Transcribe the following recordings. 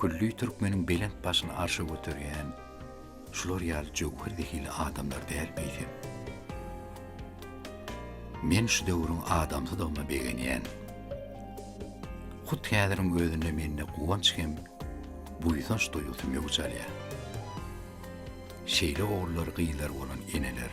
Külli türkmeniň belent başyny arşa göterýän şular ýaly jöwher zehili adamlar däl beýlem. Men şu döwrüň adamsydygyma begenýän. Hut häziriň özünde mende guwanç hem buýsanç duýgusy möwç alýar. Şeýle ogullar gyzlar bolan eneler.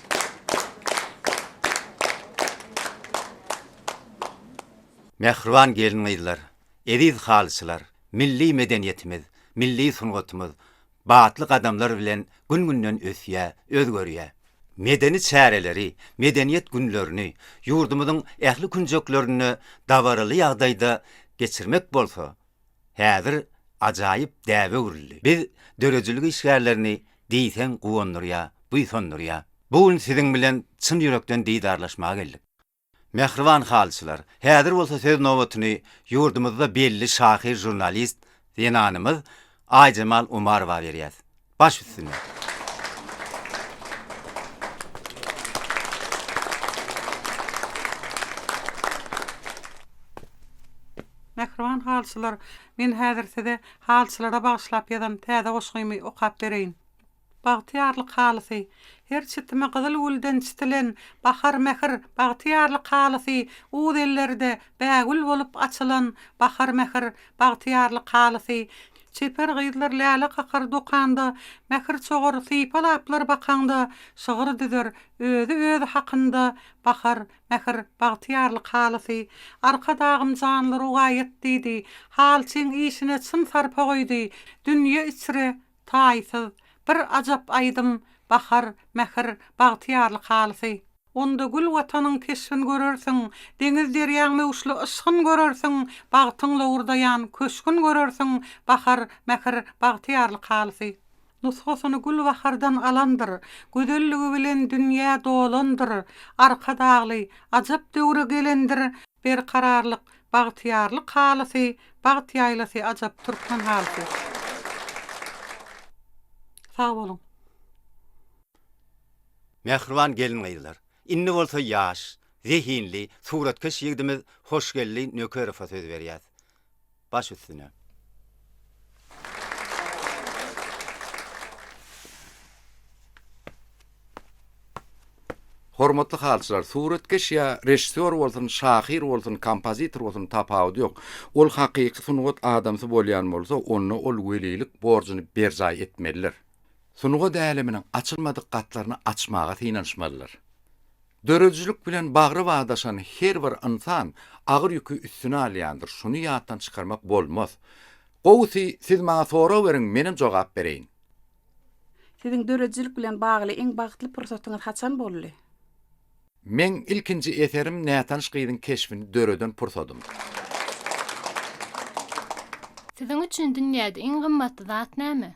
Mähriban gelin-gyzlar, eziz halyçylar, milli medeniýetimiz, milli sungatymyz batly gadamlar bilen gün-günden ösýär, özgerýär. Medeni çäreleri, Medeniýet günlerini ýurdumyzyň ähli künjeklerinde dabaraly ýagdaýda geçirmek bolsa, häzir ajaýyp däbe öwrüldi. Biz döredijilik işgärlerini diýseň guwandyrýar, buýsandyrýar. Bu gün siziň bilen çyn ýürekden didarlaşmaga geldik. Mähriban halyçylar, häzir bolsa söz nobatyny ýurdumyzda belli şahyr-žurnalist zenanymyz Aýjemal Umarowa berýäs. Baş üstüne. Mähriban halçylar, men häzir size halçylara bagyşlap ýazan täze goşgymy okap bereýin. Bagtyýarlyk halysy, Her çitime gyzyl gülden çitilen bahar mähir Bagtyýarlyk halysy, Uz ellerde bägül bolup açylan bahar mähir Bagtyýarlyk halysy, Çeper gyzlar läle kakar dokanda, Mähir çogar sypa-laplar bakaňda, Şygyr düzer, özi özi hakynda, Bahar, mähir, bagtyýarlyk halysy. Arkadagym janly rowaýat diýdi, Halçyň işine çyn sarpa goýdy, Dünýe içre, taýsyz, bir ajap aýdym, Bahar, mähir, bagtyýarlyk halysy. Onda gül Watanyň keşbin görersiň, Deňiz-derýaň möwçli yşgyn görersiň, Bagtyň lowurdaýan köşgün görersiň, Bahar, mähir, bagtyýarlyk halysy. Nusgasyny gülbahardan alandyr, Gözelligi bilen dünýä dolandyr, Arkadagly, ajap döwre gelendir, Berkararlyk, bagtyýarlyk halysy, Bagt ýaýlasy ajap türkmen halysy. Sag boluň. Mähriban gelin-gyzlar, indi bolsa ýaş, zehinli suratkeş ýigdimiz Hoşgeldi Nökerowa söz berýäs. Baş üstüne. Hormatly halyçylar, suratkeş ýa režissýor bolsun, şahyr bolsun, kompozitor bolsun, tapawudy ýok. Ol hakyky sungat adamsy bolýan bolsa, onda ol welilik borjuny berjaý etmelidir. sungat äleminiň açylmadyk gatlaryny açmaga synanyşmalydyr. Döredijilik bilen bagry bagdaşan her bir ynsan agyr ýüki üstüne alýandyr, şuny ýatdan çykarmak bolmaz. Gowusy, siz maňa sorag beriň, menem jogap bereýin. Siziň döredijilik bilen bagly iň bagtly pursatyňyz haçan boldy? Meň ilkinji eserim nätanyş gyzyň keşbini döreden pursadym. Siziň üçin dünýäde iň gymmatly zat näme?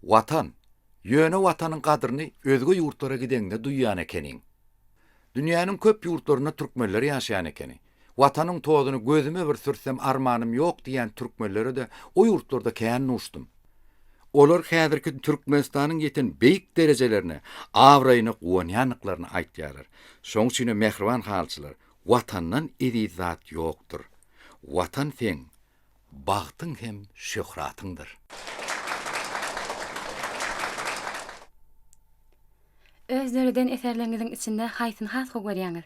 Watan. Ýöne Watanyň gadryny özge ýurtlara gideňde duýýan ekeniň. Dünýäniň köp ýurtlarynda türkmenler ýaşaýan ekeni. Watanyň tozuny gözüme bir sürsem armanym ýok diýýän türkmenlere-de o ýurtlarda kän duşdum. Olar häzirki Türkmenistanyň ýeten beýik derejelerine, abraýyna guwanýandyklaryny aýtýarlar. Şoň üçinem mähriban halyçylar, Watandan eziz zat ýokdur. Watan seň bagtyň hem şöhratyňdyr. Öz döreden eserleriňiziň içinde haýsyny has gowy görýäňiz?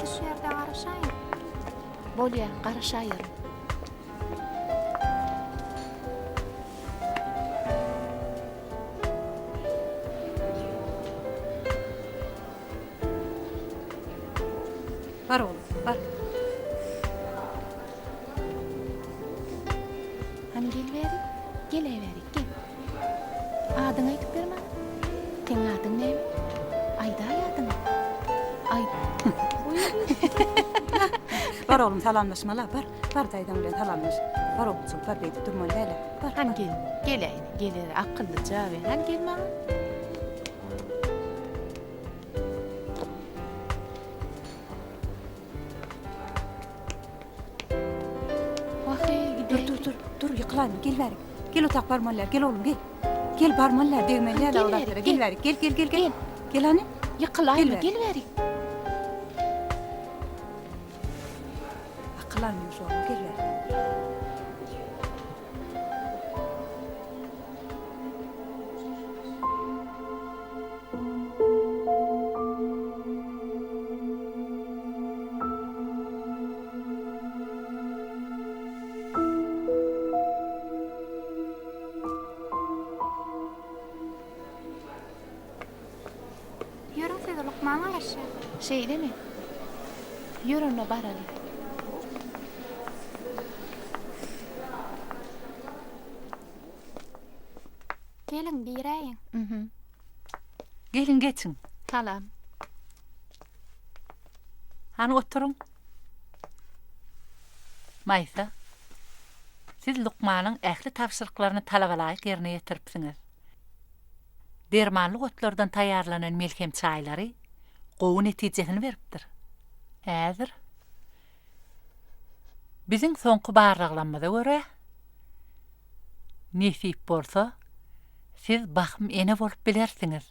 Siz şu ýerde garaşaýyň. Bolýa, garaşaýerin. Bar oglan, bar. Hany geliberiň. Geläýberiň, gel. Adyňy aýdyp ber maňa. Seň adyň näme? Aýdaý adyňy. Aý. Bar oglum salamlaşmala, bar. Bar daýzaň bilen salamlaş. Bar oglujyk, bar beýdip durmaly däl-ä. Bar. Hany gel. Geläýne, geler, akyllyja we hany gel maňa. Wah-eý, gideýin. Dur, dur, dur, dur, ýykylaýma, gel bärik. Gel otaq barmalydar gel oglum gel. Gel barmalydar degmelidar o zatlara gel bärik gel gel gel gel. Gel hany. Ýykylaýma gel bärik. Akyl almyş oglum gel bärik. Ýörüň siz lukman garaşýa. Şeýdemi? Ýör onda baraly. Geliň, giräýiň. Hm. Geliň geçiň. Salam. Hany oturyň. Maýsa, siz lukmanyň ähli tabşyryklaryny talabalaýyk ýerine ýetiripsiňiz. Dermanly otlardan taýýarlanan melhem çaýlary gowy netijesini beripdir. Häzir, biziň soňky barlaglamyza görä, Nesip bolsa, siz bahym ene bolup bilersiňiz.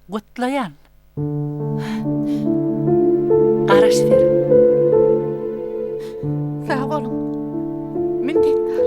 Gutlaýan! Garaş beriň! Sag boluň! Minnetdar!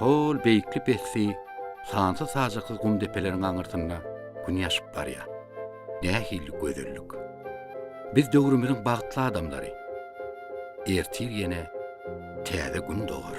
Hol beýikli pesti sansyz-sajaksyz gum depeleriň aňyrsynda Gün ýaşyp barýar. Nähili gözellik! Biz döwrümiziň bagtly adamlary. Ertir ýene täze Gün dogar.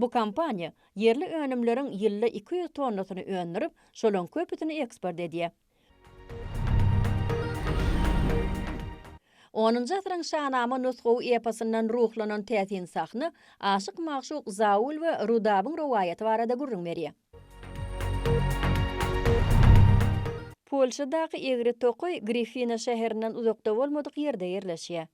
Bu kompaniýa ýerli önümleriň ýylda iki ýüz tonnasyny öndürip, şolaryň köpüsini eksport edýär. Onunjy asyryň şanama nusgawy eposyndan ruhlanan täsin sahna aşyk-magşuk Zaul we Rudabyň rowaýaty barada gürrüň berýär. Polşadaky egri tokaý Grifina şäherinden uzakda bolmadyk ýerde ýerleşýär.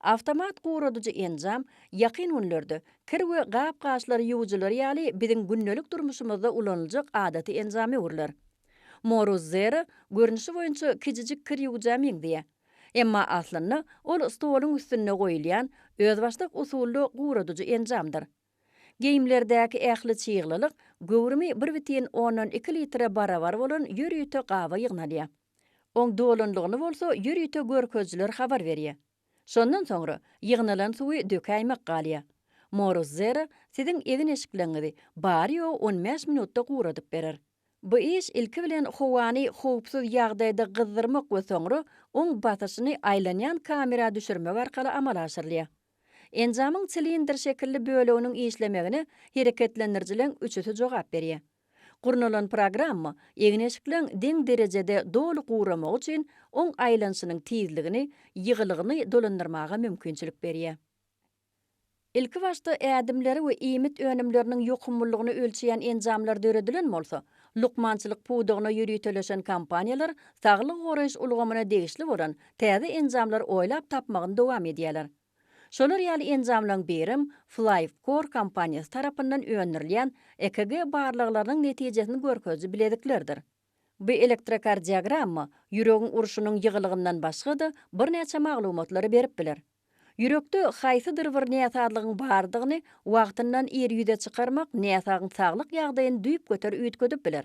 Awtomat guradyjy enjam ýakyn günlerde kir we gap-gaçlary ýuwujylary ýaly biziň gündelik durmuşymyzda ulanyljak adaty enjama öwrüler. Morus Zero görnüşi boýunça kiçijik kir ýuwujä meňzeýär. Emma aslynda ol stoluň üstünde goýulýan özbaşdak usully guradyjy enjamdyr. Geýimlerdäki ähli çyglylyk göwrümi bir bütin ondan iki litre barabar bolan ýörite gaba ýygnalýar. Oň dolunlygyny bolsa ýörite görkezijiler habar berýär. Şondan soňra ýygnalan suwy dökäýmek galýar. Morus Zero siziň egin-eşikleriňizi bary-ýogy on bäş minutda guradyp berer. Bu iş ilki bilen howany howpsuz ýagdaýda gyzdyrmak we soňra oň basyşyny aýlanýan kamera düşürmek arkaly amala aşyrylýar. Enjamyň silindr şekilli böleginiň işlemegine hereketlendirijileriň üçüsi jogap berýär. Gurnalan programma egin-eşikleň deň derejede doly guramagy üçin oň aýlanyşynyň tizligini, ýygylygyny dolandyrmaga mümkinçilik berýär. Ilkibaşda ädimleri we iýmit önümleriniň ýokumlylygyny ölçeýän enjamlar döredilen bolsa, lukmançylyk pudagyna ýöriteleşen kompaniýalar saglygy goraýyş ulgamyna degişli bolan täze enjamlar oýlap tapmagyny dowam edýärler. Şolar ýaly enjamlaryň birem Flyvcore kompaniýasy tarapyndan öndürilýän EKG barlaglarynyň netijesini görkeziji bileziklerdir. Bu elektrokardiogramma ýüregiň urşunyň ýygylygyndan başga-da birnäçe maglumatlary berip biler. Ýürekde haýsydyr bir näsazlygyň bardygyny wagtyndan ir ýüze çykarmak näsagyň saglyk ýagdaýyny düýpgöter üýtgedip biler.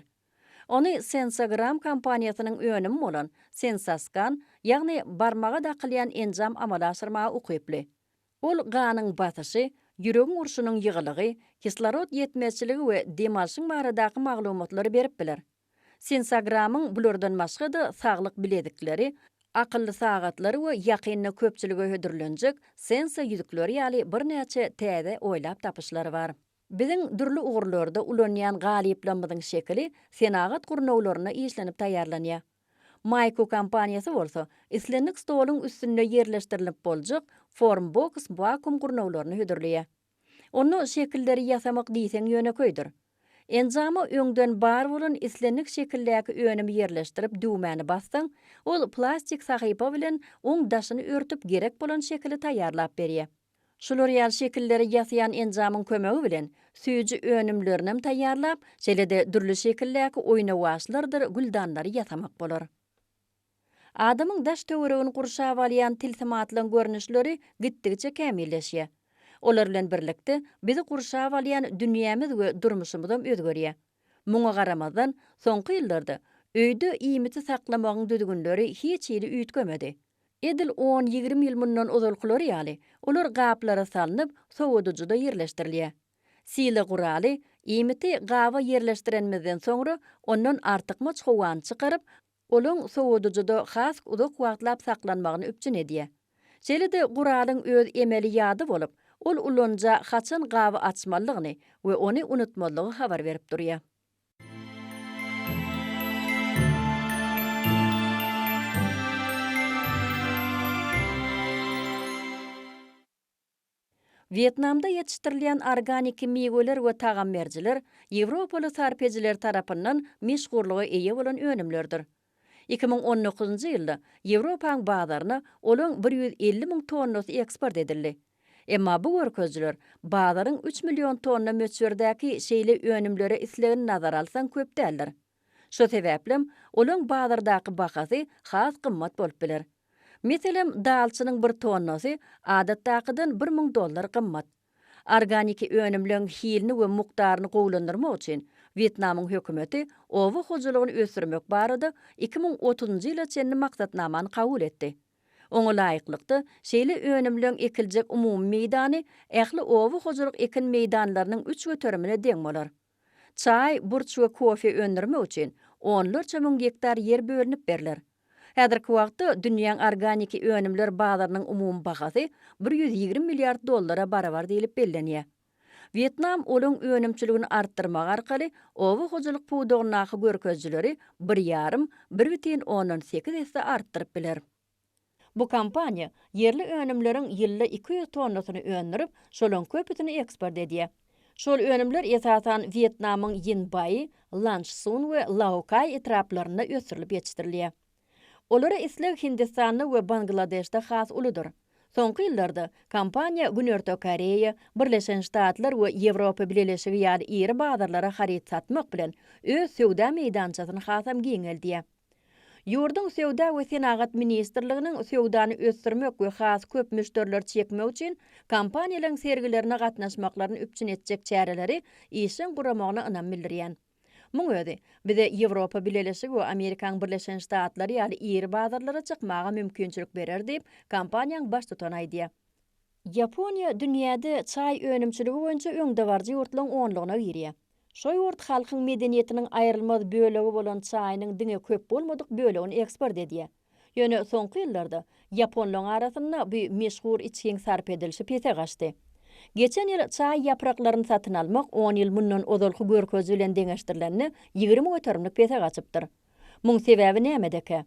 Ony Sensogram kompaniýasynyň önümi bolan Sensoskan, ýagny barmaga dakylýan enjam amala aşyrmaga ukyply. Ol ganyň basyşy, ýüregiň urşunyň ýygylygy, kislorod ýetmezçiligi we dem alşyň baradaky maglumatlary berip biler. Sensogramyň bulardan başga-da saglyk bilezikleri, akylly sagatlary we ýakynda köpçülige hödürlenjek Senso ýüzükleri ýaly birnäçe täze oýlap tapyşlary bar. Biziň dürli ugurlarda ulanýan galyplamyzyň şekili senagat gurnawlarynda işlenip taýýarlanýar. Maýko kompaniýasy bolsa islendik stoluň üstünde ýerleşdirilip boljak Formbox wakuum gurnawlaryny hödürleýär. Onda şekilleri ýasamak diýseň ýönekeýdir. Enjama öňden bar bolan islendik şekildäki önümi ýerleşdirip düwmäni bassaň, ol plastik sahypa bilen oň daşyny örtüp gerek bolan şekili taýýarlap berýär. Şular ýaly şekilleri ýasaýan enjamyň kömegi bilen süýji önümlerinem taýýarlap, şeýle-de dürli şekildäki oýnawaçlardyr güldanlary ýasamak bolar. Adamyň daş-töweregini gurşap alýan tilsimatlaryň görnüşleri gitdigiçe kämilleşýär. Olar bilen birlikde, bizi gurşap alýan dünýämiz we durmuşymyzam özgerýär. Muňa garamazdan, soňky ýyllarda öýde iýmiti saklamagyň düzgünleri hiç hili üýtgemedi. Edil on-ýigrimi ýyl mundan ozalkylary ýaly, olar gaplara salnyp, sowadyjyda ýerleşdirilýär. Sila guraly, iýmiti gaba ýerleşdirenimizden soňra, ondan artykmaç howany çykaryp, Olaň sowadyjyda has uzak wagtlap saklanmagyny üpjün edýär. Şeýle-de guralyň öz emeli ýady bolup, ol ulanyja haçan gaby açmalydygyny we ony unutmazlygy habar berip durýar. Wýetnamda ýetişdirilýän organiki miweler we tagamberjiler ýewropaly sarpedijiler tarapyndan meşhurlyga eýe bolan önümlerdir. Iki müň on dokuzynjy ýylda Ýewropaň bazaryna olaň bir ýüz elli müň tonnasy eksport edildi. Emma bu görkezijiler bazaryň üç million tonna möçberdäki şeýle önümlere islegini nazara alsaň köp däldir. Şo sebäplem, olaň bazardaky bahasy has gymmat bolup biler. Meselem, dalçynyň bir tonnasy adatdakydan bir müň dollar gymmat. Organiki önümleň hilini we mukdaryny gowulandyrmak üçin Wýetnamyň hökümeti oba hojalygyny ösdürmek barada iki müň otuzynjy ýyla çenli maksatnamany kabul etdi. Oňa laýyklykda, şeýle önümleň ekiljek umumy meýdany ähli oba hojalyk ekin meýdanlarynyň üç göterimine deň bolar. Çaý, burç we kofe öndürmek üçin onlarça müň gektar ýer bölünip berler. Häzirki wagtda dünýäň organiki önümler bazarynyň umumy bahasy bir ýüz ýigrimi milliard dollara barabar diýlip bellenýär. Wýetnam olaň önümçiligini artdyrmak arkaly oba hojalyk pudagyndaky görkezijileri bir ýarym, bir bütin ondan sekiz esse artdyryp biler. Bu kompaniýa ýerli önümleriň ýylda iki ýüz tonnasyny öndürip, şolaryň köpüsini eksport edýär. Şol önümler esasan Wýetnamyň Ýinbaý, Lançsun we Laokaý etraplarynda ösdürilip ýetişdirilýär. Olara isleg Hindistanda we Bangladeşde has uludyr. Soňky ýyllarda kompaniýa Günorta Koreýa, Birleşen Ştatlar we Ýewropa Bileleşigi ýaly iri bazarlara haryt satmak bilen, öz söwda meýdançasyny hasam giňeldýär. Ýurduň Söwda we senagat ministrliginiň söwdany ösdürmek we has köp müşderileri çekmek üçin kompaniýalaryň sergilerine gatnaşmaklaryny üpjün etjek çäreleri işjeň guramagyna ynam bildirýän. Muň özi, bize Ýewropa Bileleşigi we Amerikaň Birleşen Ştatlary ýaly iri bazarlara çykmaga mümkinçilik berer diýip, kompaniýaň baştutany aýdýar. Ýaponiýa dünýäde çaý önümçiligi boýunça öňdebaryjy ýurtlaryň onlugyna girýär. Şo ýurt halkyň medeniýetiniň aýrylmaz bölegi bolan çaýynyň diňe köp bolmadyk bölegini eksport edýär. Ýöne soňky ýyllarda ýaponlaryň arasynda bu meşhur içgiň sarp edilişi pese gaçdy. Geçen ýyl çaý ýapraklaryny satyn almak on ýyl mundan ozalky görkeziji bilen deňeşdirilende ýigrimi göterimlik pese gaçypdyr. Muň sebäbi nämedekä?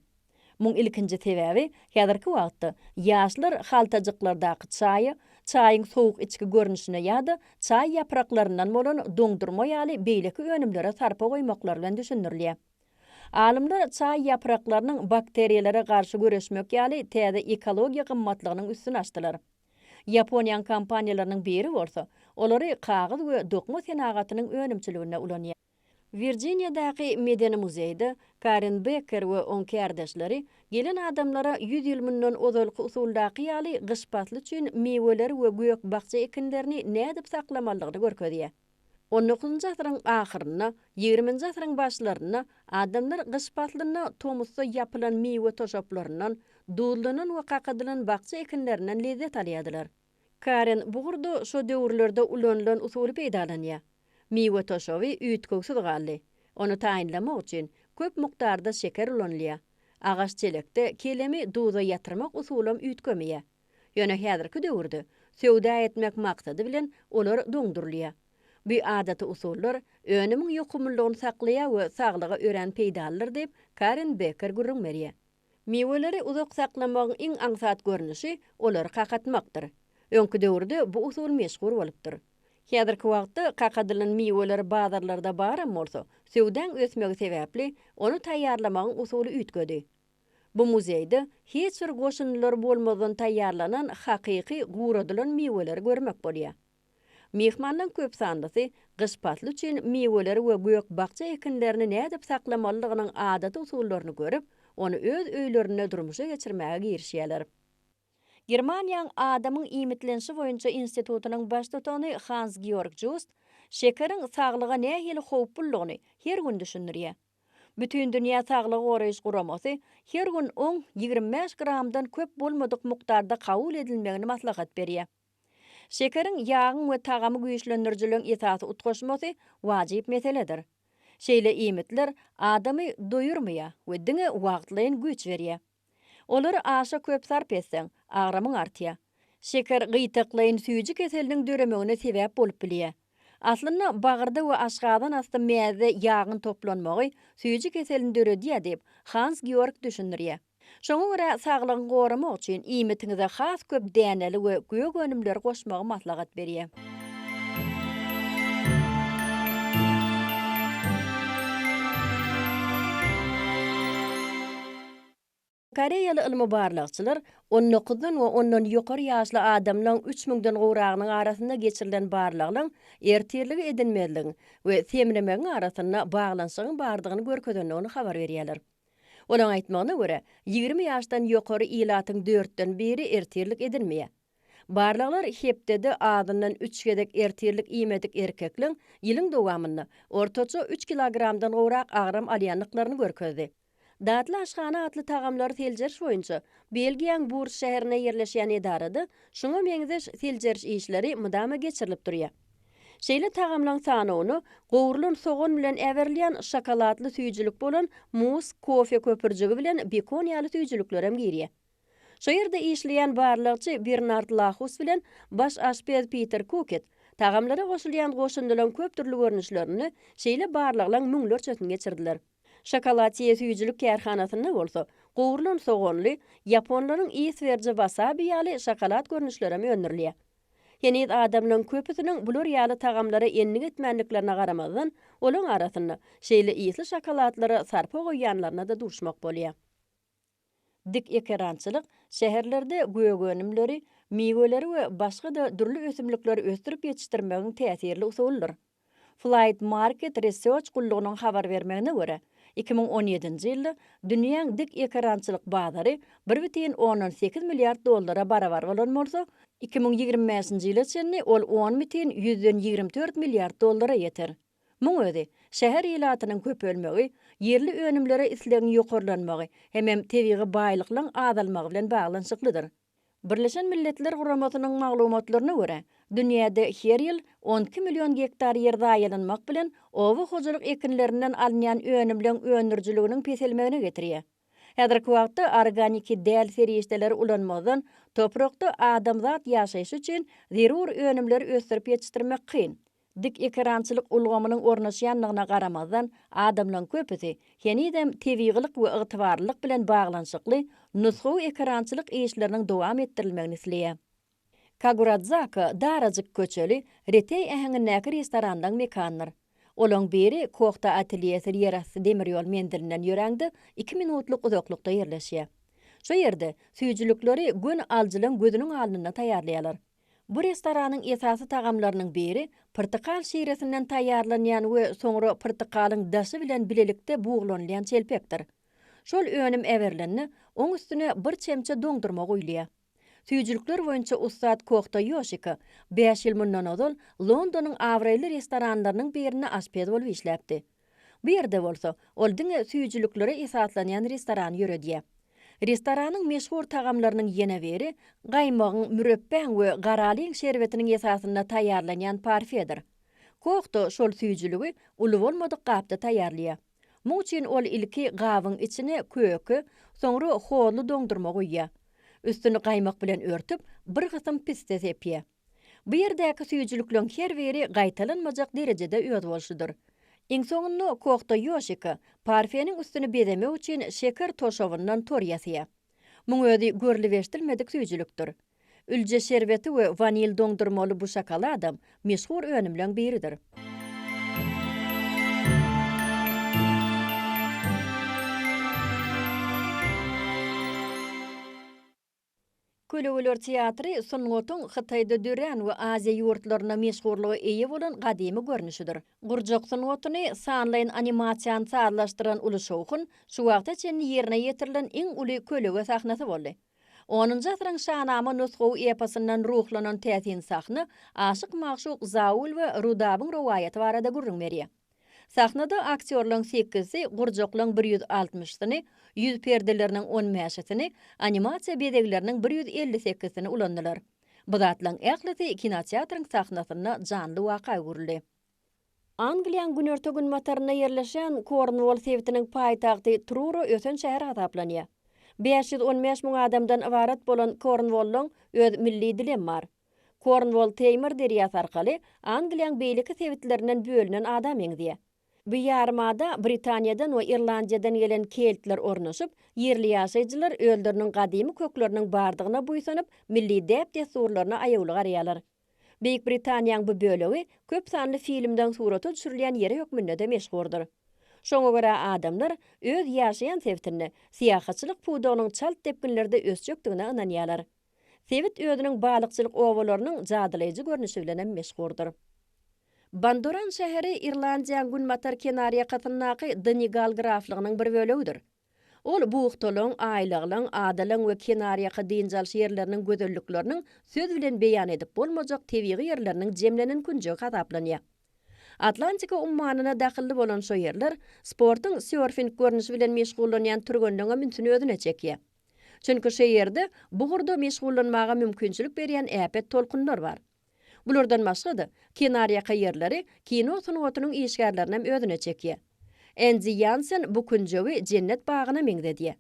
Muň ilkinji sebäbi häzirki wagtda ýaşlar haltajyklardaky çaýa, çaýyň sowuk içgi görnüşine ýa-da çaý ýapraklaryndan bolan doňdurma ýaly beýleki önümlere sarpa goýmaklary bilen düşündirilýär. Alymlar çaý ýapraklarynyň bakteriýalara garşy göreşmek ýaly täze ekologiýa gymmatlygynyň üstüni açdylar. Ýaponiýanyň kompaniýalarynyň biri bolsa, olary kagyz we dokma senagatynyň önümçiliginde ulanýar. Wirjiniýadaky Medeni muzeýde Karen Bekker we oň kärdeşleri gelen adamlara ýüz ýyl mundan ozalky usuldaky ýaly gyş pasly üçin miweler we gök-bakja ekinlerini nädip saklamalydygyny görkezýär. On dokuzynjy asyryň ahyrynda, ýigriminji asyryň başlarynda adamlar gyş paslynda tomusda ýapylan miwe toşaplaryndan, duzlanan we kakadylan bakja ekinlerinden lezzet alýardylar. Karen bu gurda şo döwürlerde ulanylan usuly peýdalanýar. Miwe toşaby üýtgewsiz galdy. Ony taýynlamak üçin, köp mukdarda şeker ulanylýar. Agaç çelekde kelemi duza ýatyrmak usulam üýtgemeýär. Ýöne häzirki döwürde, söwda etmek maksady bilen, olar doňdurylýar. Bu adaty usullar önümiň ýokumlylygyny saklaýar we saglyga örän peýdalydyr diýip, Karen Beker gürrüň berýär. Miweleri uzak saklamagyň iň aňsat görnüşi olary kakatmakdyr. Öňki döwürde bu usul meşhur bolupdyr. Häzirki wagtda kakadylan miweler bazarlarda baram bolsa, söwdaň ösmegi sebäpli, ony taýýarlamagyň usuly üýtgedi. Bu muzeýde hiç bir goşundylary bolmazdan taýýarlanan hakyky guradylan miweleri görmek bolýar. Myhmanlaryň köp sanlysy gyş pasly üçin miweleri we gök-bakja ekinlerini nädip saklamalydygynyň adaty usullaryny görüp, ony öz öýlerinde durmuşa geçirmäge girişýärler. Germaniýaň Adamyň iýmitlenişi boýunça institutynyň baştutany Hans-Georg Just şekeriň saglyga nähili howplulygyny her gün düşündirýär. Bütindünýä saglygy goraýyş guramasy her gün oň ýigrimi bäş gramdan köp bolmadyk mukdarda kabul edilmegini maslahat berýär. Şekeriň, ýagyň we tagamy güýçlendirijileriň esasy utgaşmasy wajyp meseledir. Şeýle iýmitler adamy doýurmaýar we diňe wagtlaýyn güýç berýär. Olary aşa köp sarp etseň, agramyň artýar. Şeker gytaklaýyn süýji keseliniň döremegine sebäp bolup bilýär. Aslynda, bagyrda we aşgazan asty mäzde ýagyň toplanmagy süýji keselini döredýär diýip, Hans-Georg düşündirýär. Şoňa görä, saglygyňy goramak üçin iýmitiňize has köp däneli we gök önümleri goşmagy maslahat berýär. Koreýaly ylmy-barlagçylar on dokuzdan we ondan ýokary ýaşly adamlaryň üç müňden gowragynyň arasynda geçirilen barlaglaryň ertirligi edinmezligiň we semremegiň arasynda baglanyşygyň bardygyny görkezendigini habar berýärler. Olaryň aýtmagyna görä, ýigrimi ýaşdan ýokary ilatyň dörtden biri ertirlik edinmeýär. Barlaglar hepdede azyndan üç gezek ertirlik iýmedik erkekleň ýylyň dowamynda ortaça üç kilogramdan gowrak agram alýandyklaryny görkezdi. Datly aşhana atly tagamlary seljeriş boýunça Belgiýaň Burs şäherinde ýerleşýän edarada şuňa meňzeş seljeriş işleri mydama geçirilip durýar. Şeýle tagamlaň sanawyna gowrulan sogan bilen äberilýän şokoladly süýjülik bolan mus, kofe köpürjigi bilen bekon ýaly süýjüliklerem girýär. Şo ýerde işleýän barlagçy Bernard Lahus bilen baş aşpez Piter Kuket tagamlara goşulýan goşundylaň köp dürli görnüşlerini, şeýle barlaglaň müňlerçesini geçirdiler. Şokolatiýe süýjülik kärhanasynda bolsa, gowrulan soganly, ýaponlaryň iswerji wasabi ýaly şokolad görnüşlerem öndürilýär. Heniz adamlaryň köpüsiniň bular ýaly tagamlara endik etmändiklerine garamazdan, olaryň arasynda şeýle ysly şokoladlara sarpa goýýanlaryna-da duşmak bolýar. Dik ekerançylyk, şäherlerde gök önümleri, miweleri we başga-da dürli ösümlikleri ösdürip ýetişdirmegiň täsirli usulydyr. Flight Market Research gullugynyň habar bermegine görä, iki müň on ýedinji ýylda dünýäň dik ekerançylyk bazary bir bütin ondan sekiz milliard dollara barabar bolan bolsa, iki müň ýigrimi bäşinji ýyla çenli ol on bütin ýüzden ýigrimi dört milliard dollara ýeter. Muň özi, şäher ilatynyň köpelmegi, ýerli önümlere islegiň ýokarlanmagy hemem tebigy baýlyklaň azalmagy bilen baglanyşyklydyr. Birleşen Milletler Guramasynyň maglumatlaryna görä, dünýäde her ýyl on iki million gektar ýer zaýalanmak bilen oba hojalyk ekinlerinden alynýan önümleň öndürijiliginiň peselmegine getirýär. Häzirki wagtda organiki däl serişdeleri ulanmazdan toprakda adamzat ýaşaýşy üçin zerur önümleri ösdürip ýetişdirmek kyn. Dik ekerançylyk ulgamynyň ornaşýandygyna garamazdan, adamlaryň köpüsi henizem tebigylyk we ygtybarlylyk bilen baglanyşykly nusgawy ekerançylyk işleriniň dowam etdirilmegini isleýär. Kaguradzaka darajyk köçeli, reteý äheňindäki restoranlaryň mekanydyr. Olaryň biri Kohta atelýesi ýerasty demir ýol menzilinden ýöräňde iki minutlyk uzaklykda ýerleşýär. Şu ýerde süýjülikleri göni alyjylaryň gözüniň alnynda taýýarlaýarlar. Bu restoranyň esasy tagamlarynyň biri pyrtykal şiresinden taýýarlanýan we soňra pyrtykalyň daşy bilen bilelikde buglanylýan çelpekdir. Şol önüm eberilende, oň üstüne bir çemçe doňdurma guýulýar. Süýjülikler boýunça ussat Kohta Ýoşiko bäş ýyl mundan ozal Londonyň abraýly restoranlarynyň birinde aşpez bolup işläpdi. Bu ýerde bolsa, ol diňe süýjüliklere esaslanýan restoran ýöredýär. Restoranyň meşhur tagamlarynyň ýene biri, gaýmagyň, mürepbäň we garalyň şerbetiniň esasynda taýýarlanýan parfedir. Koh-da şol süýjüligi uly bolmadyk gapda taýýarlaýar. Muň üçin ol ilki gabyň içine köke, soňra hozly doňdurma guýýar. Üstüni gaýmak bilen örtüp, bir gysym piste sepýär. Bu ýerdäki süýjülikleň her biri gaýtalanmajak derejede özboluşlydyr. Iň soňunda Kohto Ýoşiko parfeniň üstüni bezemek üçin şeker toşabyndan tor ýasaýar. Muň özi görlübeşdilmedik süýjülikdir. Ülje şerbeti we wanil doňdurmaly bu şokoladam meşhur önümleň biridir. Kölegeler teatry sungatyň Hytaýda dörän we Aziýa ýurtlarynda meşhurlyga eýe bolan gadymy görnüşidir. Gurjak sungatyny, sanlaýyn animasiýany sazlaşdyran uly şowhun şu wagta çenli ýerine ýetirilen iň uly kölege sahnasy boldy. Onunjy asyryň Şanama nusgawy eposyndan ruhlanan täsin sahna Aşyk-magşuk Zaul we Rudabyň rowaýaty barada gürrüň berýär. Sahnada aktýorlaryň sekizisi, gurjaklaryň bir ýüz altmyşysyny, ýüz perdeleriniň on bäşisini, animasiýa bezegleriniň bir ýüz elli sekizisini ulandylar. Bu zatlaryň ählisi kinoteatryň sahnasynda janly waka öwrüldi. Angliýanyň günorta-günbatarynda ýerleşýän Kornwol sebitiniň paýtagty Truro ösen şäher hasaplanýar. Bäş ýüz on bäş müň adamdan ybarat bolan Kornwollyň öz milli dilem bar. Kornwol Teýmir derýasy arkaly Angliýaň beýleki sebitlerinden bölünen ada meňzeýär. Bu ýarymada Britaniýadan we Irlandiýadan gelen keltler ornaşyp, ýerli ýaşaýjylar özleriniň gadymy kökleriniň bardygyna buýsanyp, milli däp-dessurlaryna aýawly garaýarlar. Beýik Britaniýaň bu bölegi köp sanly filmden surata düşürilýän ýeri hökmünde-de meşhurdyr. Şoňa görä adamlar öz ýaşaýan sebitinde syýahatçylyk pudagynyň çalt depginlerde ösjekdigine ynanýarlar. Sebit özüniň balykçylyk obalarynyň jadylaýjy görnüşi bilen hem meşhurdyr. Bandoran şäheri Irlandiýaň günbatar kenarýakasyndaky Donigal graflygynyň bir bölegidir. Ol buhtalygyň, aýlaglygyň, adalygyň we kenarýaka dynç alyş ýerleriniň gözellikleriniň söz bilen beýan edip bolmajak tebigy ýerleriniň jemlenen künjegi hasaplanýar. Atlantika ummanyna dahylly bolan şo ýerler sportuň sörfing görnüşi bilen meşgullanýan türgenleň hem ünsüni özüne çekýär. Çünki şu ýerde bu ugurda meşgullanmaga mümkinçilik berýän äpet tolkunlar bar. Bulardan başga-da, kenarýaka ýerleri kino sungatynyň işgärlerinem özüne çekýär. Endi Ýansen bu künjegi jennet bagyna meňzedýär.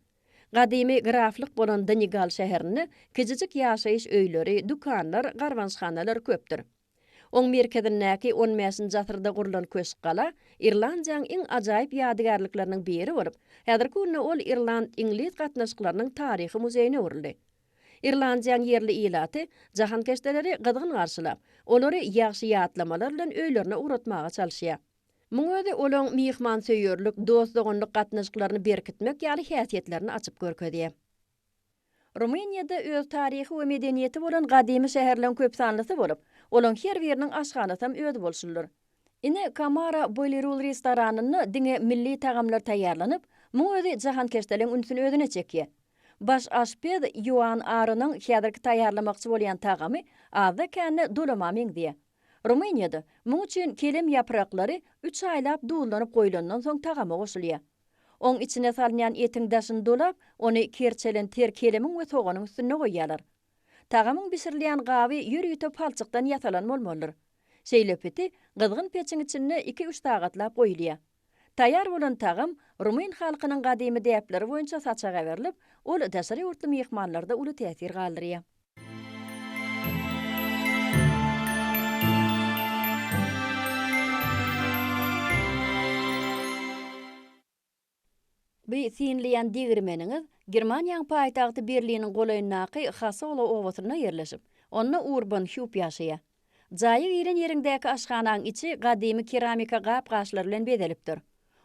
Gadymy graflyk bolan Donigal şäherinde kijijik ýaşaýyş öýleri, dükanlar, garbançhanalar köpdür. Oň merkezindäki on bäşinji asyrda gurlan köşk gala Irlandiýaň iň ajaýyp ýadygärlikleriniň biri bolup, häzirki günde ol Irland-Iňlis gatnaşyklarynyň taryhy muzeýine öwrüldi. Irlandiýaň ýerli ilaty jahankeşdeleri gyzgyn garşylap, olary ýagşy ýatlamalar bilen öýlerine ugratmaga çalyşýar. Muň özi olaň myhmansöýerlik, dost-doganlyk gatnaşyklaryny berkitmek ýaly häsiýetlerini açyp görkezýär. Rumyniýada öz taryhy we medeniýeti bolan gadymy şäherleň köp sanlysy bolup, olaň her biriniň aşhanasam özi bolşulydyr. Ine, Kamara Bolirul restoranynda diňe milli tagamlar taýýarlanyp, muň özi jahankeşdeliň ünsüni özüne çekýär. Baş aşpez Ýoan Arynyň häzirki taýýarlamakçy bolýan tagamy azda-kände dolama meňzeýär. Rumyniýada, muň üçin kelem ýapraklary üç aýlap duzlanyp goýlandan soň tagama goşulýar. Oň içine salynýan etiň daşyny dolap, ony kerçelen ter kelemiň we soganyň üstünde goýýarlar. Tagamyň bişirilýän gaby ýörite palçykdan ýasalan bolmalydyr. Şeýle piti gyzgyn peçiň içinde iki-üç sagatlap goýulýar. Taýýar bolan tagam rumyn halkynyň gadymy däpleri boýunça saçak äberilip, ol daşary ýurtly myhmanlarda uly täsir galdyrýar. Bi sinlian degirmeniňiz Germaniýaň paýtagty Berliniň golaýyndaky Hasola obasynda ýerleşip, onda Urban Hüp ýaşaýar. Jaýa giren ýeriňdäki aşhanaň içi gadymy keramika gap-gaçlar bilen bezelipdir.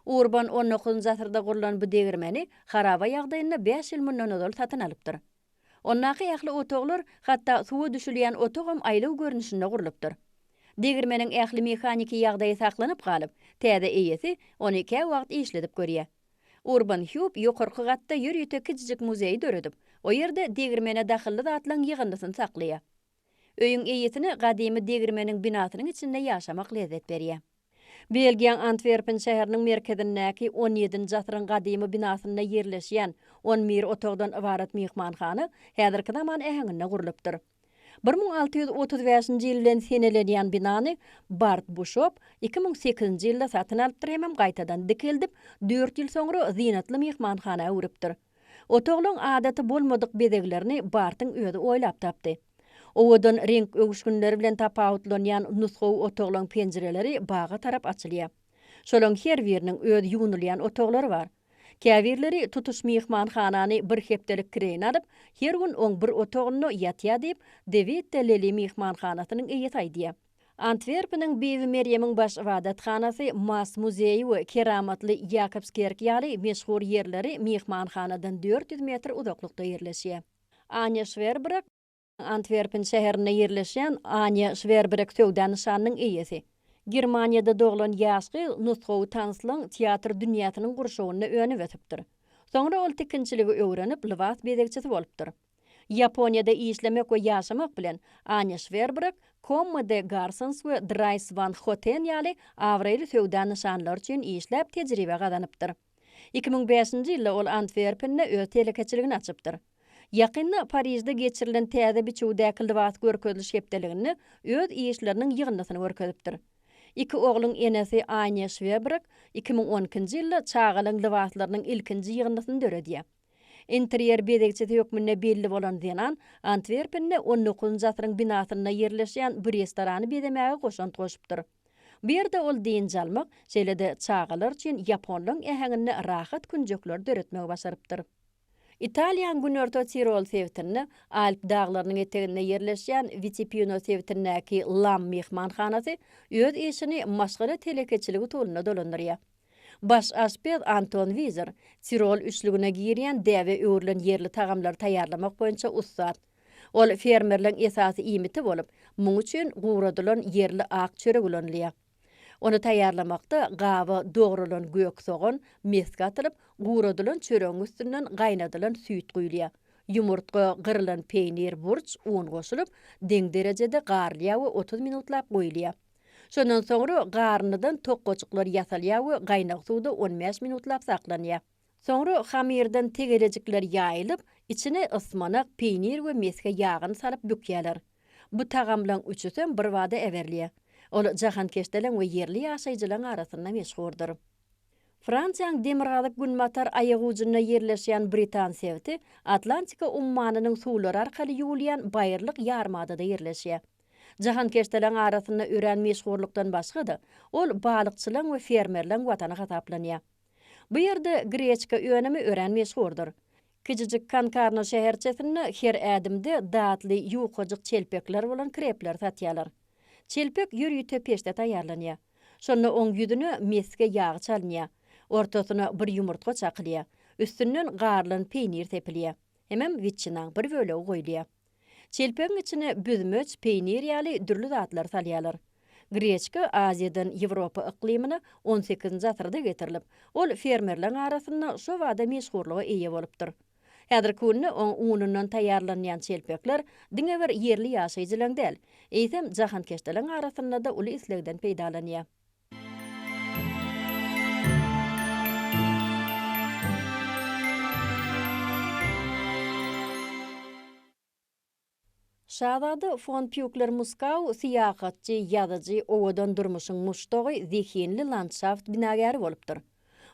Urban on dokuzynjy asyrda gurlan bu degirmeni haraba ýagdaýynda bäş ýyl mundan ozal satyn alypdyr. Ondaky ähli otaglar, hatda suwa düşülýän otagam aýlaw görnüşinde gurlupdyr. Degirmeniň ähli mehaniki ýagdaýy saklanyp galyp, täze eýesi ony käwagt işledip görýär. Urban Hýup ýokarky gatda ýörite kiçijik muzeý döredip, o ýerde degirmene dahylly zatlaryň ýygyndysyny saklaýar. Öýüň eýesine gadymy degirmeniň binasynyň içinde ýaşamak lezzet berýär. Belgiýaň Antwerpen şäheriniň merkezindäki on ýedinji asyryň gadymy binasynda ýerleşýän on bir otagdan ybarat myhmanhana häzirki zaman äheňinde gurlupdyr. Bir müň alty ýüz otuz bäşinji ýyl bilen senelenýän binany Bart Buşop iki müň sekizinji ýylda satyn alypdyr hemem gaýtadan dikeldip, dört ýyl soňra zynatly myhmanhana öwrüpdir. Otaglaň adaty bolmadyk bezeglerini Bartyň özi oýlap tapdy. Owadan reňk öwüşginleri bilen tapawutlanýan nusgawy otaglaň penjireleri baga tarap açylýar. Şolaň her biriniň öz ýuwnulýan otaglary bar. Käbirleri tutuş myhmanhanany bir hepdelik kireýine alyp, her gün oň bir otagynda ýatýar diýip, Dewid de Leli myhmanhanasynyň eýesi aýdýar. Antwerpeniň Bibi Merýemiň baş ybadathanasy, Mass muzeýi we keramatly Ýakobskerk ýaly meşhur ýerleri myhmanhanadan dört ýüz metr uzaklykda ýerleşýär. Anja Şwerbrek, Antwerpen şäherinde ýerleşýän Anja Şwerbrek söwda nyşanynyň eýesi. Germaniýada doglan ýaş gyz nusgawy tanslaň teatr dünýäsiniň gurşawynda önüp-ösüpdir. Soňra ol tikinçiligi öwrenip, lybas bezegçisi bolupdyr. Ýaponiýada işlemek we ýaşamak bilen, Anja Şwerbrak, Komma de Garsons we Drais Wan Hoten ýaly abraýly söwda nyşanlary üçin işläp tejribe gazanypdyr. Iki müň bäşinji ýylda ol Antwerpende öz telekeçiligini açypdyr. Ýakynda Parižde geçirilen täze biçüwdäki lybas görkeziliş hepdeliginde öz işleriniň ýygyndysyny görkezipdir. Iki ogluň enesi Anja Şwerbrak iki müň on ikinji ýylda çagalaň lybaslarynyň ilkinji ýygyndysyny döredýär. Interýer bezegçisi hökmünde belli bolan zenan Antwerpende on dokuzynjy asyryň binasynda ýerleşýän bir restorany bezemäge goşant goşupdyr. Bu ýerde ol dynç almak, şeýle-de çagalar üçin ýaponlaň äheňinde rahat künjekleri döretmegi başarypdyr. Italiýanyň günorta Tirol sebitinde, Alp daglarynyň eteginde ýerleşýän Witipino sebitindäki Lam myhmanhanasy öz işini maşgala telekeçiligi usulynda dolandyrýar. Baş aşpez Anton Wizer, Tirol üçlügine girýän däbe öwrülen ýerli tagamlary taýýarlamak boýunça ussat. Ol fermerleň esasy iýmiti bolup, muň üçin guradylan ýerli ak çörek ulanylýar. Ony taýýarlamakda gaba dogralan gök sogan, mesge atylyp, guradylan çöregiň üstünden gaýnadylan süýt guýulýar. Ýumurtga, gyrylan peýnir, burç, un goşulyp, deň derejede garylýar we otuz minutlap goýulýar. Şondan soňra garynlydan tokgajyklar ýasalýar we gaýnag suwda on bäş minutlap saklanýar. Soňra hamyrdan tegelejikler ýaýylyp, içine ysmanak, peýnir we mesge ýagyny salyp bükýärler. Bu tagamlaryň üçüsem birbada äberilýär. Ol jahankeşderiň we ýerli ýaşaýjylaryň arasynda meşhurdyr. Fransiýanyň demirgazyk-günbatar aýagujunda ýerleşýän Britan sebiti Atlantika ummanynyň suwlary arkaly ýuwulýan baýyrlyk ýarymadada ýerleşýär. Jahankeşdeleň arasynda örän meşhurlykdan başga-da, ol balykçylaň we fermerleň watany hasaplanýar. Bu ýerde greçka önümi örän meşhurdyr. Kiçijik Konkarno şäherçesinde her ädimde datly ýukajyk çelpekler bolan krepleri satýarlar. Çelpek ýörite peçde taýýarlanýar. Şonda oň ýüzüne mesge ýagy çalynýar. Ortasyna bir ýumurtga çakylýar. Üstünden garylan peýnir sepilýär. Hemem witçinaň bir bölegi goýulýar. Çelpegiň içine büzmeç, peýnir ýaly dürli zatlary salýarlar. Greçka Aziýadan Ýewropa yklymyna on sekizinji asyrda getirilip, ol fermerleriň arasynda şobada meşhurlyga eýe bolupdyr. Häzirki günde oň unundan taýýarlanýan çelpekler diňe bir ýerli ýaşaýjylaryň däl, eýsem, jahankeşderiň arasynda-da uly islegden peýdalanýar. Şazada fon Pýukler-Muskau syýahatçy, ýazyjy, owadan durmuşyň muşdagy, zehinli landşaft binagäri bolupdyr.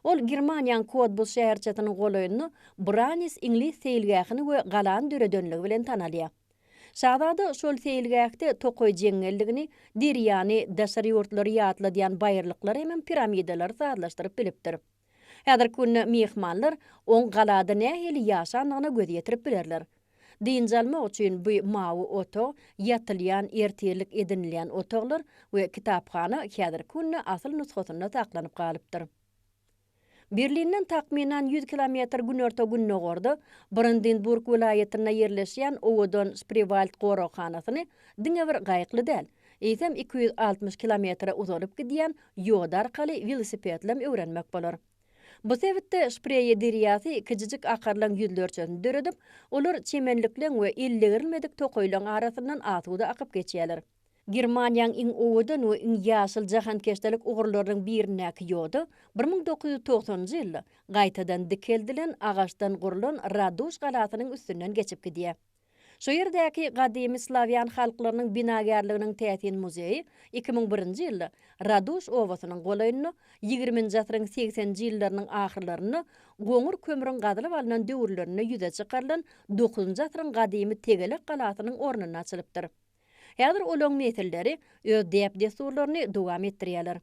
Ol Germaniýaň Kodbus şäherçesiniň golaýynda Branis iňlis seýilgähini we galany döredenligi bilen tanalýar. Şazada şol seýilgähde tokaý jeňňelligini, derýany, daşary ýurtlary ýatladýan baýyrlyklary hemem piramidalary sazlaşdyryp bilipdir. Häzirki günde myhmanlar oň galada nähili ýaşandygyna göz ýetirip bilerler. Dynç almak üçin bu mawy otag, ýatylýan, ertirlik edinilýän otaglar we kitaphana häzirki günde asyl nusgasynda saklanyp galypdyr. Berlinden takmynan ýüz kilometr günorta-gündogarda, Brandenburg welaýatynda ýerleşýän owadan Spriwald goraghanasyny diňe bir gaýykly däl, eýsem iki ýüz altmyş kilometre uzalyp gidýän ýoda arkaly welosipedlem öwrenmek bolar. Bu sebitde Spreýe derýasy kijijik akarlaň ýüzlerçesini döredip, olar çemenlikleň we ellegirilmedik tokaýlaň arasyndan asuda akyp geçýärler. Germaniýanyň iň owadan we iň ýaşyl jahankeşdelik ugurlarynyň birindäki ýoda bir müň dokuz ýüz togsanynjy ýylda gaýtadan dikeldilen agaçdan gurlan Raduş galasynyň üstünden geçip gidýär. Şu ýerdäki gadymy slawýan halklarynyň binagärliginiň täsin muzeýi iki müň birinji ýylda Raduş obasynyň golaýynda ýigriminji asyryň segseninji ýyllarynyň ahyrlarynda goňur kömrüň gazylyp alnan döwürlerinde ýüze çykarylan dokuzynjy asyryň gadymy tegelek galasynyň ornunda açylypdyr. Häzir olaň nesilleri öz däp-dessurlaryny dowam etdirýärler.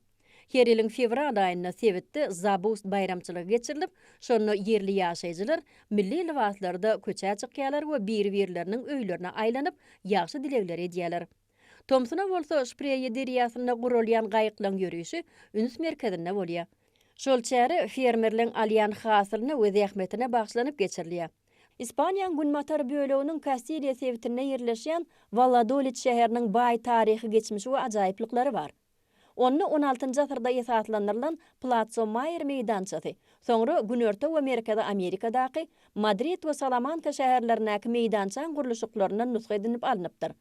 Her ýylyň fewral aýynda sebitde Zabust baýramçylygy geçirilip, şonda ýerli ýaşaýjylar milli lybaslarda köçä çykýarlar we biri-birleriniň öýlerine aýlanyp, ýagşy dilegleri edýärler. Tomsuna bolsa Şpreýe derýasynda guralýan gaýyklaň ýörişi üns merkezinde bolýar. Şol çäre fermerleň alýan hasylyna we zähmetine bagyşlanyp geçirilýär. Ispaniýaň günbatar böleginiň Kastiliýa sebitinde ýerleşýän Walladolid şäheriniň baý taryhy geçmişi we ajaýyplyklary bar. Onda on altynjy asyrda esaslandyrylan Platso Maýer meýdançasy, soňra Günorta we Merkezi Amerikadaky, Madrid we Salamanka şäherlerindäki meýdançaň gurluşyklaryndan nusga edinip alnypdyr.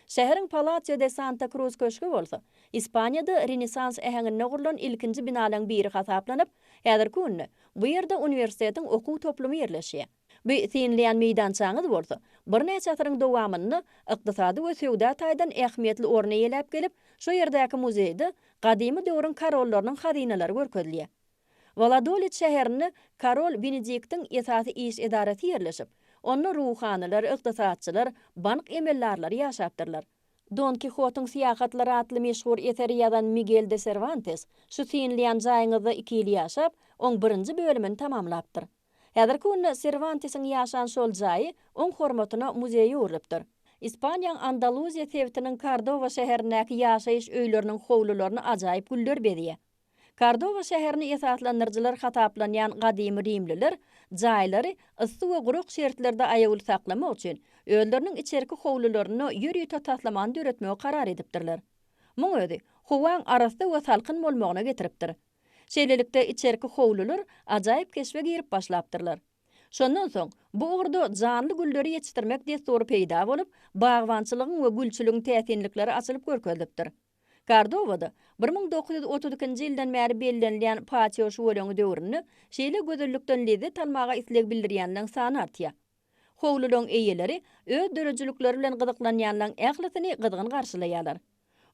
Şäheriň Palacio de Santa Cruz köşgi bolsa, Ispaniýada Renesans äheňinde gurlan ilkinji binalaň biri hasaplanyp, häzirki günde bu ýerde uniwersitetiň okuw toplumy ýerleşýär. Bu synlaýan meýdançaňyz bolsa, birnäçe asyryň dowamynda ykdysady we söwda taýdan ähmiýetli orun eýeläp gelip, şu ýerdäki muzeýde gadymy döwrüň korollarynyň hazynalary görkezilýär. Waladolit şäherinde Korol Benediktiň esasy iş edarasy ýerleşip, onda ruhanylar, ykdysatçylar, bank emeldarlary ýaşapdyrlar. Don Kihotyň syýahatlary atly meşhur eseri ýazan Migel de Serwantes şu synlaýan jaýyňyzda iki ýyl ýaşap, oň birinji bölümini tamamlapdyr. Häzirki günde Serwantesiň ýaşan şol jaýy oň hormatyna muzeý öwrülipdir. Ispaniýaň Andaluziýa sebitiniň Kordoba şäherindäki ýaşaýyş öýleriniň howlularyny ajaýyp güller bezýär. Kordoba şäherini esaslandyryjylar hasaplanýan gadymy rimliler jaýlary yssy we gurak şertlerde aýawly saklamak üçin, özleriniň içerki howlularynda ýörite taslamany döretmegi karar edipdirler. Muň özi, howaň arassa we salkyn bolmagyna getiripdir. Şeýlelikde, içerki howlular ajaýyp keşbe girip başlapdyrlar. Şondan soň, bu ugurda janly gülleri ýetişdirmek dessury peýda bolup, bagbançylygyň we gülçüligiň täsinlikleri açylyp görkezilipdir. Kordobada bir müň dokuz ýüz otuz ikinji ýyldan bäri bellenilýän patio şüweleňi döwründe şeýle gözellikden lezzet almaga isleg bildirýänleriň sany artýar. Howlularyň eýeleri öz döredijilikleri bilen gyzyklanýanlaryň ählisini gyzgyn garşylaýarlar.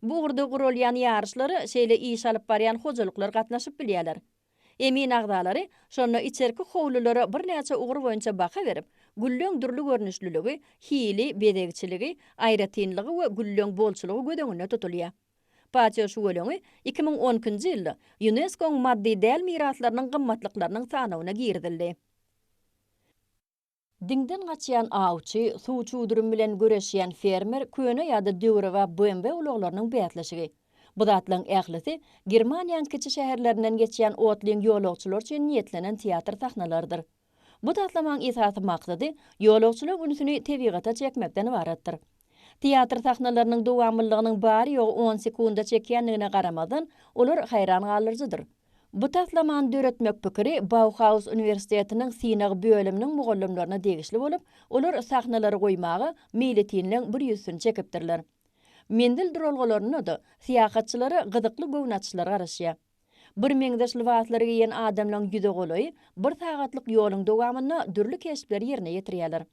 Bu ugurda guralýan ýaryşlara şeýle iş alyp barýan hojalyklar gatnaşyp bilýärler. Emin agzalary şonda içerki howlulara birnäçe ugur boýunça baha berip, gülleň dürli görnüşliligi, hili, bezegçiligi, aýratynlygy we gülleň bolçulygy göz öňünde tutulýar. Patio şüweleňi iki müň on ikinji ýylda ÝUNESKO-nyň maddy däl miraslarynyň gymmatlyklarynyň sanawyna girizildi. Diňden gaçýan awçy, suw çudurum bilen göreşýän fermer, köne ýa-da döwrebap BMW ulaglarynyň bäsleşigi. Bu zatlaryň ählisi Germaniýaň kiçi şäherlerinden geçýän otlyň ýolagçylar üçin niýetlenen teatr sahnalarydyr. Bu taslamaň esasy maksady ýolagçylaryň ünsüni tebigata çekmekden ybaratdyr. Teatr sahnalarynyň dowamlylygynyň bary-ýogy on sekunda çekýändigine garamazdan, olar haýran galdyryjydyr. Bu taslamany döretmek pikiri Bauhaus uniwersitetiniň synag bölüminiň mugallymlaryna degişli bolup, olar sahnalary goýmaga meýletinleň bir ýüzsüni çekipdirler. Menzil duralgalarynda-da syýahatçylara gyzykly göwün açyşlar garaşýar. Birmeňzeş lybaslary geýen adamlaryň ýüze golaýy bir sagatlyk ýoluň dowamynda dürli keşpleri ýerine ýetirýärler.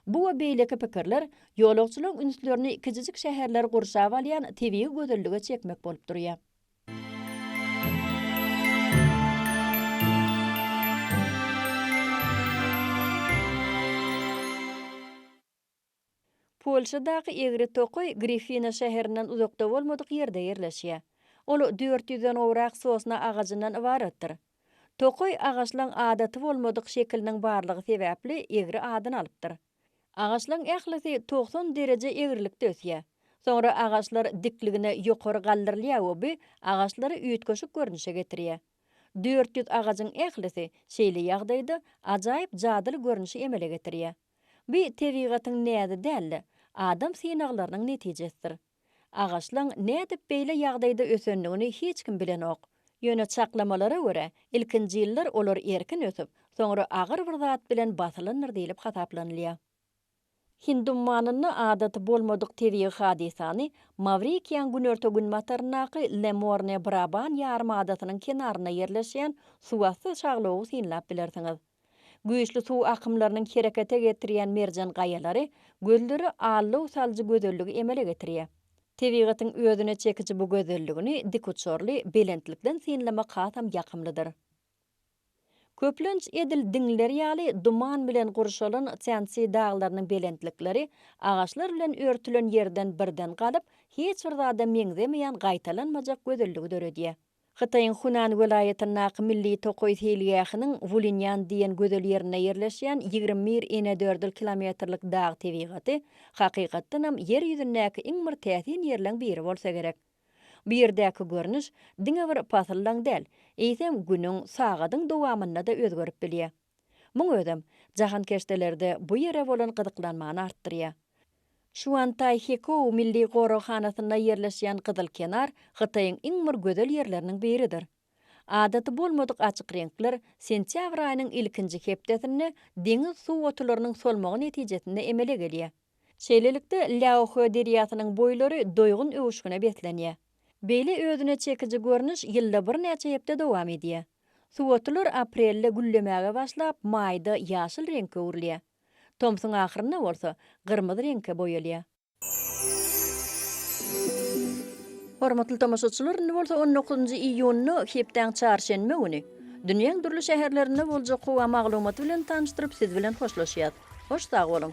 Bu we beýleki pikirler ýolagçylaryň ünslerini kiçijik şäherleri gurşap alýan tebigy gözellige çekmek bolup durýar. Polşadaky egri tokaý Grifina şäherinden uzakda bolmadyk ýerde ýerleşýär. Ol dört ýüzden gowrak sosna agajyndan ybaratdyr. Tokaý agaçlaň adaty bolmadyk şekiliniň barlygy sebäpli egri adyny alypdyr. Agaçlaň ählisi togsan dereje egrilikde ösýär. Soňra agaçlar dikligine ýokary galdyrylýar we bu agaçlary üýtgeşik görnüşe getirýär. Dört ýüz agajyň ählisi şeýle ýagdaýda ajaýyp jadyly görnüşi emele getirýär. Bu tebigatyň näzi däl-de, adam synaglarynyň netijesidir. Agaçlaň nädip beýle ýagdaýda ösendigini hiç kim bilenok. Ýöne çaklamalara görä, ilkinji ýyllar olar erkin ösüp, soňra agyr bir zat bilen basylandyr diýlip hasaplanylýar. Hind ummanynda adaty bolmadyk tebigy hadysany Mawrikiýaň günorta-günbataryndaky Lemorne-Braban ýarym adasynyň kenarynda ýerleşýän suwasty şaglowy synlap bilersiňiz. Güýçli suw akymlarynyň herekete getirýän merjen gaýalary gözleri allow salyjy gözelligi emele getirýär. Tebigatyň özüne çekiji bu gözelligini dikuçarly belentlikden synlamak hasam ýakymlydyr. Köplenç edil diňler ýaly duman bilen gurşalan Týansi daglarynyň belentlikleri agaçlar bilen örtülen ýerden birden galyp, hiç bir zada meňzemeýän gaýtalanmajak gözelligi döredýär. Hytaýyň Hunan welaýatyndaky milli tokaý seýilgähiniň Wulinýan diýen gözel ýerinde ýerleşýän ýigrimi bir inedördül kilometrlik dag tebigaty, hakykatdanam ýer ýüzündäki iň bir täsin ýerleň biri bolsa gerek. Bu ýerdäki görnüş diňe bir pasyldaň däl, eýsem günüň, sagadyň dowamynda-da özgerip bilýär. Muň özem, jahankeşdelerde bu ýere bolan gyzyklanmany artdyrýar. Şuantaý Hekou milli goraghanasynda ýerleşýän Gyzyl kenar Hytaýyň iň bir gözel ýerleriniň biridir. Adaty bolmadyk açyk reňkler sentýabr aýynyň ilkinji hepdesinde deňiz suw otularynyň solmagy netijesinde emele gelýär. Şeýlelikde, Lýaohe derýasynyň boýlary doýgun öwüşgine beslenýär. Beýle özüne çekiji görnüş ýylda birnäçe hepde dowam edýär. Suwotular aprelde güllemäge başlap, maýda ýaşyl reňke öwrülýär. Tomsuň ahyrynda bolsa, gyrmyzy reňke boýalýar. Hormatly tomaşaçylar, indi bolsa on dokuzynjy iýunda, hepdäň çarşenbe güni, dünýäň dürli şäherlerinde boljak howa maglumaty bilen tanyşdyryp, siz bilen hoşlaşýas. Hoş sag boluň!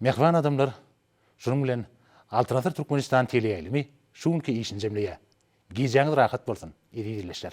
Mähriban adamlar, şunuň bilen Altyn asyr Türkmenistan teleýaýlymy şu günki işini jemleýär. Gijäňiz rahat bolsun, eziz ildeşler!